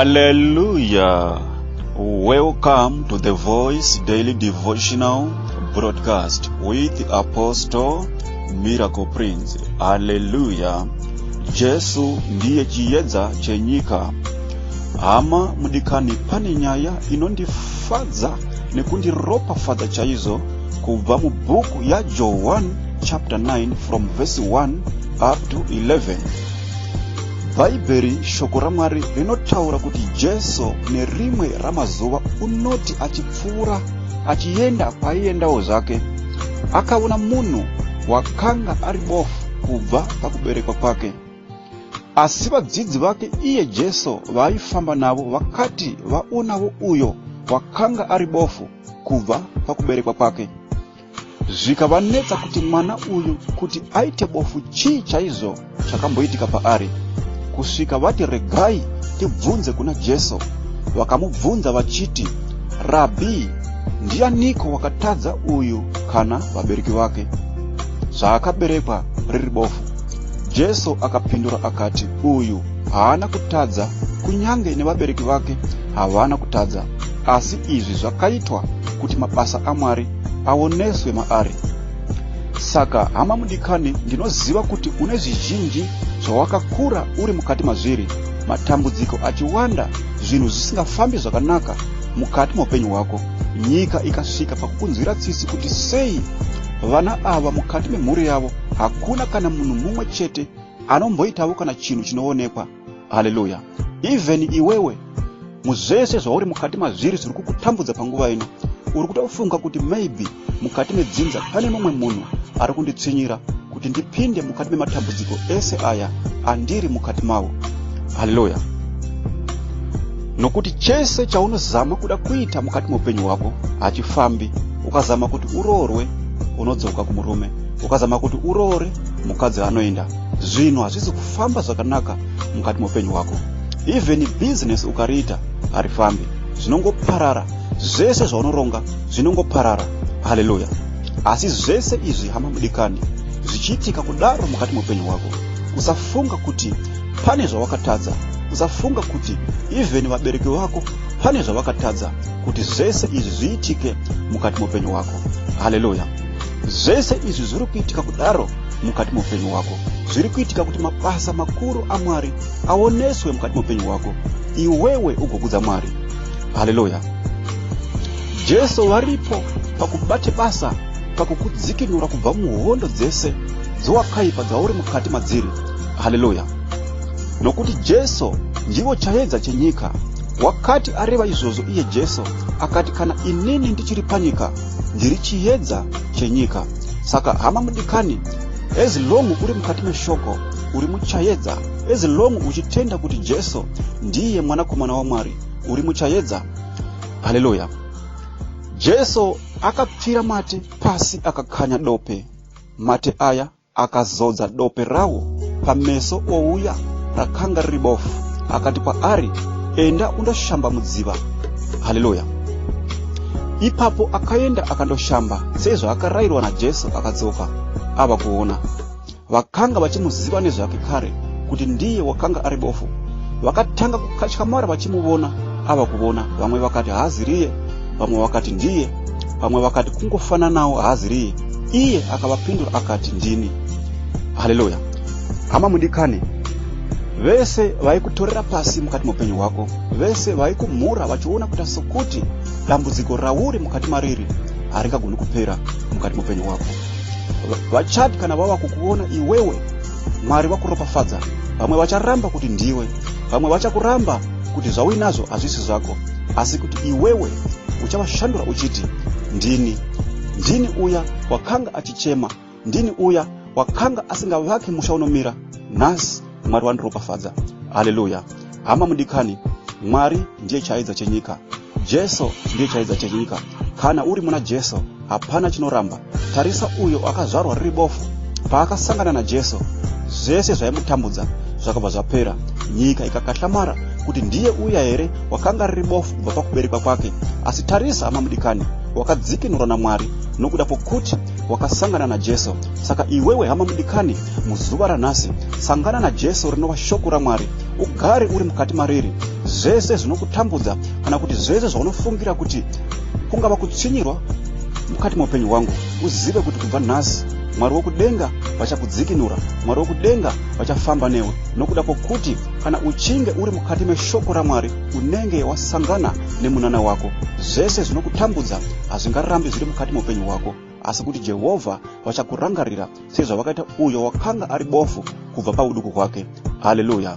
Hallelujah. Welcome to the Voice Daily Devotional broadcast with Apostle Miracle Prince. Hallelujah. Jesu ndiye chiyedza chenyika. Hama mudikani pane nyaya inondifadza nekundiropafadza chaizvo kubva mubhuku yajohwan chapter 9 from verse 1 up to 11 bhaibheri shoko ramwari rinotaura kuti jesu nerimwe ramazuva unoti achipfuura achienda kwaiendawo zvake akaona munhu wakanga ari bofu kubva pakuberekwa kwake Asi vadzidzi vake iye Jesu vaaifamba navo vakati vaonavo uyo wakanga ari bofu kubva pakuberekwa kwake. Zvikavanetsa kuti mwana uyu kuti aite bofu chii chaizvo chakamboitika paari. Kusvika vati regai tibvunze kuna Jesu. Vakamubvunza vachiti, Rabhi, ndianiko wakatadza uyu kana vabereki vake? Zvaakaberekwa riri bofu. Jesu akapindura akati, Uyu haana kutadza, kunyange nevabereki vake havana kutadza, asi izvi zvakaitwa kuti mabasa aMwari aoneswe maari. Saka hama mudikani, ndinoziva kuti une zvizhinji zvawakakura uri mukati mazviri, matambudziko achiwanda, zvinhu zvisingafambi zvakanaka mukati meupenyu hwako, nyika ikasvika pakukunzwira tsitsi kuti sei vana ava mukati memhuri yavo hakuna kana munhu mumwe chete anomboitawo kana chinhu chinoonekwa haleluya even iwewe muzvese zvauri mukati mazviri zviri kukutambudza panguva ino uri kutofunga kuti maybe mukati medzinza pane mumwe munhu ari kunditsinyira kuti ndipinde mukati mematambudziko ese aya andiri mukati mavo haleluya nokuti chese chaunozama kuda kuita mukati meupenyu hwako hachifambi ukazama kuti uroorwe unodzoka kumurume ukazama kuti uroore mukadzi anoenda zvinhu hazvisi kufamba zvakanaka mukati meupenyu hwako even business ukariita harifambi zvinongoparara zvese zvaunoronga zvinongoparara haleluya asi zvese izvi hama mudikani zvichiitika kudaro mukati meupenyu hwako usafunga kuti pane zvawakatadza usafunga kuti even vabereki vako pane zvavakatadza kuti zvese izvi zviitike mukati meupenyu hwako haleluya Zvese izvi zviri kuitika kudaro mukati meupenyu wako zviri kuitika kuti mabasa makuru amwari aoneswe mukati meupenyu wako iwewe ugokudza mwari haleluya jesu varipo pakubate basa pakukudzikinura kubva muhondo dzese dzowakaipa dzauri mukati madziri haleluya nokuti jesu ndivo chayedza chenyika wakati areva izvozvo iye jesu akati kana inini ndichiri panyika ndiri chiyedza chenyika saka hama mudikani as long uri mukati meshoko uri muchayedza as long uchitenda kuti jesu ndiye mwanakomana wamwari uri muchayedza haleluya jesu akapfira mate pasi akakanya dope mate aya Akazodza dope rawo pameso ouya rakanga riri bofu, akati kwaari, Enda undoshamba mudziva. Haleluya! Ipapo akaenda akandoshamba sezvaakarairwa naJesu, akadzoka ava kuona. Vakanga vachimuziva nezvake kare kuti ndiye wakanga ari bofu. Vakatanga kukatyamara vachimuvona ava kuvona, vamwe vakati, Haazi riye, vamwe vakati, Ndiye. vamwe vakati kungofananawo haaziriye iye akavapindura akati ndini haleluya hama mudikani vese vaikutorera pasi mukati meupenyu hwako vese vaikumhura vachiona kuita sokuti dambudziko rauri mukati mariri haringagoni kupera mukati meupenyu hwako vachati kana vava kukuona iwewe mwari vakuropafadza vamwe vacharamba kuti ndiwe vamwe vachakuramba kuti zvauinazvo hazvisi zvako asi kuti iwewe uchavashandura uchiti ndini ndini uya wakanga achichema ndini uya wakanga asingavaki musha unomira nhasi mwari wandiropafadza haleluya hama mudikani mwari ndiye chaidza chenyika jesu ndiye chaidza chenyika kana uri muna jesu hapana chinoramba tarisa uyo akazvarwa riri bofu paakasangana najesu zvese zvaimutambudza zvakabva zvapera nyika ikakahlamara kuti ndiye uya here wakanga riri bofu kubva pakuberekwa kwake asi tarisa hama mudikani wakadzikinurwa namwari nokuda kwokuti wakasangana najesu saka iwewe hama mudikani muzuva ranhasi sangana najesu rinova shoko ramwari ugare uri mukati mariri zvese zvinokutambudza kana kuti zvese zvaunofungira kuti kungava kutsvinyirwa mukati meupenyu hwangu uzive kuti kubva nhasi mwari wokudenga vachakudzikinura mwari wokudenga vachafamba newe nokuda kwokuti kana uchinge uri mukati meshoko ramwari unenge wasangana nemunana wako zvese zvinokutambudza hazvingarambi zviri mukati meupenyu hwako asi kuti jehovha vachakurangarira sezvavakaita uyo wakanga ari bofu kubva pauduku hwake haleluya